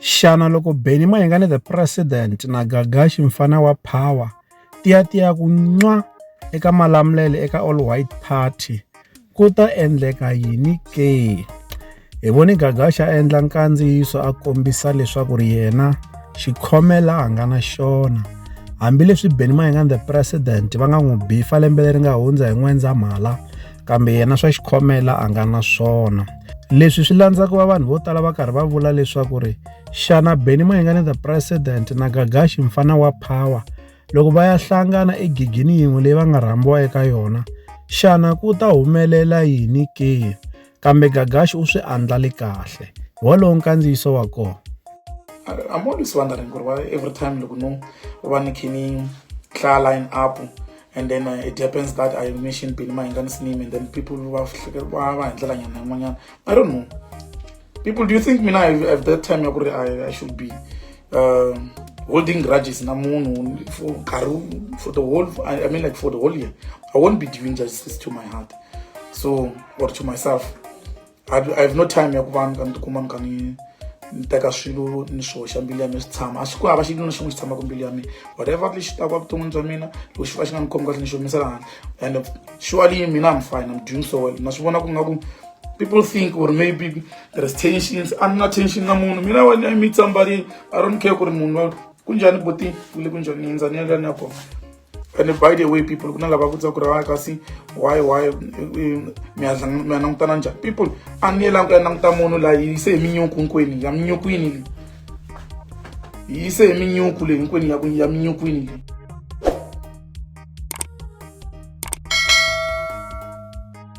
Xana loko Benny Mayengani the President na Gagashi mfana wa Power tiyatiya ku nwa eka malamulelo eka All White Party ku ta endleka yini ke? Hi voni Gagashi a endla nkandziyiso a kombisa leswaku ri yena xikhomela a nga na xona hambileswi Benny Mayengani the President va nga n'wi bifa lembe leri nga hundza hi N'wendzamhala kambe yena swa xikhomela a nga na swona leswi swi landza ku va vanhu vo tala va karhi va vula leswaku ri xana beni mayingane the president na gagaxi mfana wa power loko va ya hlangana egigini yin'we leyi va nga rhambiwa eka yona xana ku ta humelela yini ke kambe gagaxi u swi andlali kahle wolowo nkandziyiso wa kona i'm always wondering ku ri every time loko no va ni khe ni hlaya line up and then uh, it happens that i mention pin my intense name and then people who have i don't know people do you think me now at that time I, I should be uh, holding grudges na moon for karu for the whole I, I mean like for the whole year i won't be doing justice to my heart so or to myself i have no time ya ku va ni ka ni tikuma ni ka ni ni teka swilo ni swi hoxa mbilu ya mina swi tshama a swi ku hava xilo na xin'we xi tshamaka mbilu ya mina whatever lexi taka evuton'wini bya mina loko xi va xi nga ni khomi kahle ni xi humesela hana and surely mina i'm fine i'm doing so well na swi vona ku nga ku people think or maybe there's tensions a ni na tension na munhu mina when i meet somebody i don't care ku ri munhu kunjhani boti kule kunjhani ni hundza ni ya la ni ya kona and by the way people kuna lava ku tsakura va kasi why why mi ya langutana njhani people a ni yelangi ku ya languta munhu la yi yise hi minyuku hinkwenu ya minyukwini leyi yi yise hi minyuku leyi hinkwenu ya ku ya minyukwini leyi